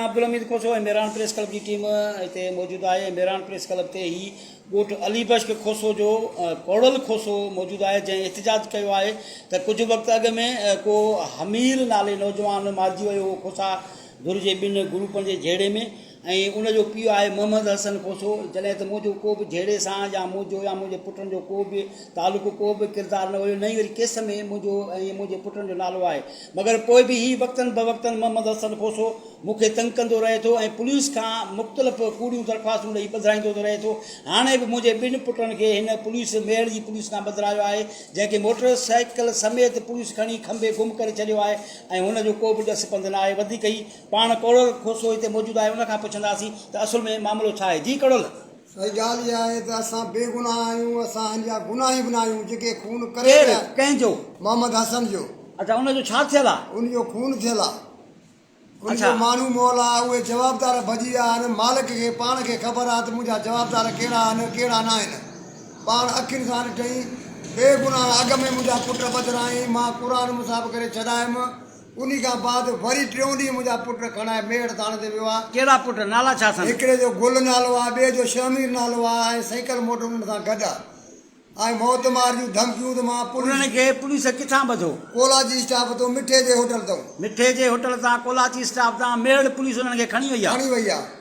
Abdul Hamid Khoso ۽ Miran press club جي team هتي موجود آهي ۽ ميراڻ پريس ڪلب تي هي ڳوٺ علي بشڪ کوسو جو ڪوڙل کوسو موجود آهي جنهن احتجاج ڪيو آهي ته ڪجهه وقت اڳ ۾ ڪو حميل نالي نوجوان مارجي ويو هو کوسا ڌر جي ٻن گروپن جي جهيڙي ۾ ۽ ان جو پيء آهي محمد حسن کوسو جڏهن ته منهنجو ڪو به جهيڙي سان يا منهنجو يا منهنجي پٽن جو ڪو به تعلق ڪو به ڪردار نه هيو نه ئي وري ڪيس ۾ منهنجو ۽ منهنجي پٽن جو نالو آهي مگر پوء به هي وقتن بوقتن محمد حسن کوسو مون کي تنگ ڪندو رهي ٿو ۽ پوليس کان مختلف ڪوڙيون درخواستون ڏئي ٻڌرائيندو رهي ٿو. هاڻي به منهنجي ٻن پٽن کي هن پوليس ميهڙ جي پوليس کان ٻڌرايو آهي، جنهن کي موٽر سائيڪل سميت پوليس کڻي کنڀي گم ڪري ڇڏيو آهي ۽ هن جو ڪو به ڏس پنڌ نه آهي. وڌيڪ هي پاڻ ڪڙول کوسو هتي موجود آهي ان کان پڇنداسين ته اصل ۾ معاملو ڇا آهي. جي ڪڙول! سائين ڳالهه اها آهي ته اسان بي گناهه آهيون اسان هن جا گناهي به ناهيون جيڪي خون ڪري ڪير ويا ڪنهن جو؟ محمد حسن جو. اڇا ان جو ڇا ٿيل آ؟ ان جو خون ٿيل آ. ان اڇا. جو ماڻهو مئل آ اهي جوابدار ڀڄي ويا آهن مالڪ کي پاڻ کي خبر آ ته منهنجا جوابدار ڪهڙا آهن ڪهڙا ناهن پاڻ اکين سان ڏٺئين بي گناهه اڳ ۾ منهنجا پٽ ٻڌرائين مان قرآن مصاحب ڪري ڇڏايم انهي کان بعد وري ٽيون ڏينهن منهنجا پٽ کڻائي ميڙ ٿاڻي تي ويو آ. ڪهڙا پٽ؟ نالا ڇا اٿن؟ هڪڙي جو گل نالو آ، ٻئي جو شهمير نالو آ ۽ سيڪل موٽر انهن سان گڏ آ ۽ موت مار جون ڌمڪيون ته مان پوليس. انهن کي پوليس ڪٿان ٻڌو؟ ڪولاچي اسٽاپ تون مٺي جي هوٽل تئون. مٺي جي هوٽل تان ڪولاچي اسٽاپ تان ميڙ پوليس انهن کي کڻي وئي آ. کڻي وئي آ.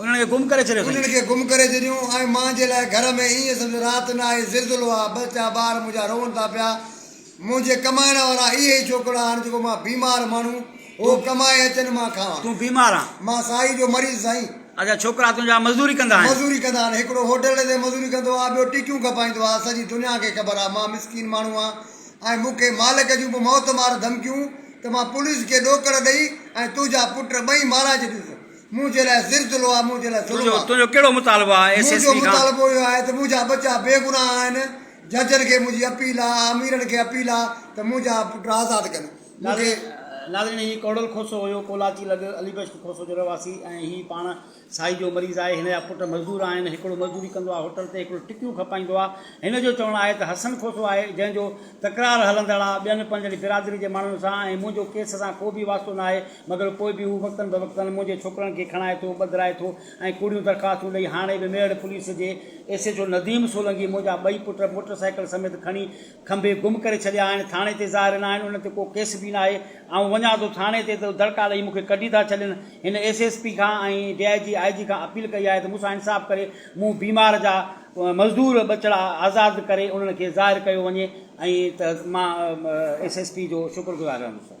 انهن کي گم ڪري ڇڏيو اٿئي. انهن کي گم ڪري ڇڏيون ۽ مان جي لاء گهر ۾ ايئن سمجهه رات نه آهي، زلزلو آهي، بس ڇا ٻار منهنجا روئن ٿا پيا. منهنجي ڪمائڻ وارا اهي ئي ڇوڪرا آهن جيڪو مان بيمار ماڻهو هو ڪمائي اچن مان کائان. تون بيمار آن؟ مان سائي جو مريض سائين. اچا ڇوڪرا تنهنجا مزدوري ڪندا آهن؟ مزدوري ڪندا آهن، هڪڙو هوٽل تي مزدوري ڪندو آهي، ٻيو ٽيڪيون کپائيندو آهي، سڄي دنيا کي خبر آهي مان مسڪين ماڻهو آهان ۽ مون کي مالڪ جون به موت مار ڌمڪيون ته مان پوليس کي ڏوڪڙ ڏئي ۽ تنهنجا پٽ ٻئي مارائي ڇڏينس. منهنجي لاء زلزلو آهي، منهنجي لاء ظلم آهي. تنهنجو ڪهڙو مطالبو آهي ايس ايس پي کان؟ منهنجو مطالبو اهو آهي ته منهنجا ٻچا بي گناهه آهن، ججن کي منهنجي اپيل آهي، آميرن کي اپيل آهي ته منهنجا پٽ آزاد ڪن. مون کي. ناظرين هي ڪوڙل کوسو هيو ڪولاچي لڳ علي بخش کوسو جو رهواسي ۽ هي پاڻ سائي جو مريض آهي هن جا پٽ مزدور آهن هڪڙو مزدوري ڪندو آهي هوٽل تي هڪڙو ٽڪيون کپائيندو آهي هن جو چوڻ آهي ته حسن کوسو آهي جنهن جو تڪرار هلندڙ آهي ٻين پنهنجڙي برادري جي ماڻهن سان ۽ منهنجو ڪيس سان ڪو به واسطو ناهي مگر پوء به هو وقتن بوقتن منهنجي ڇوڪرن کي کڻائي ٿو، ٻڌرائي ٿو ۽ ڪوڙيون درخواستون ڏئي هاڻي به ميڙ پوليس جي S H O Nadeem Solangi منهنجا ٻئي پٽ موٽر سائيڪل سميت کڻي کنڀي گم ڪري ڇڏيا آهن ٿاڻي تي ظاهر ناهن انهن تي ڪو ڪيس به ناهي آئون وڃان ٿو ٿاڻي تي ته دڙڪا ڏئي مون کي ڪڍي ٿا ڇڏين هن ايس ايس پي کان ۽ ڊي آئي جي آئي جي کان اپيل ڪئي آهي ته مون سان انصاف ڪري مون بيمار جا مزدور ٻچڙا آزاد ڪري انهن کي ظاهر ڪيو وڃي ۽ ته مان ايس ايس پي جو شڪر گذار رهندس.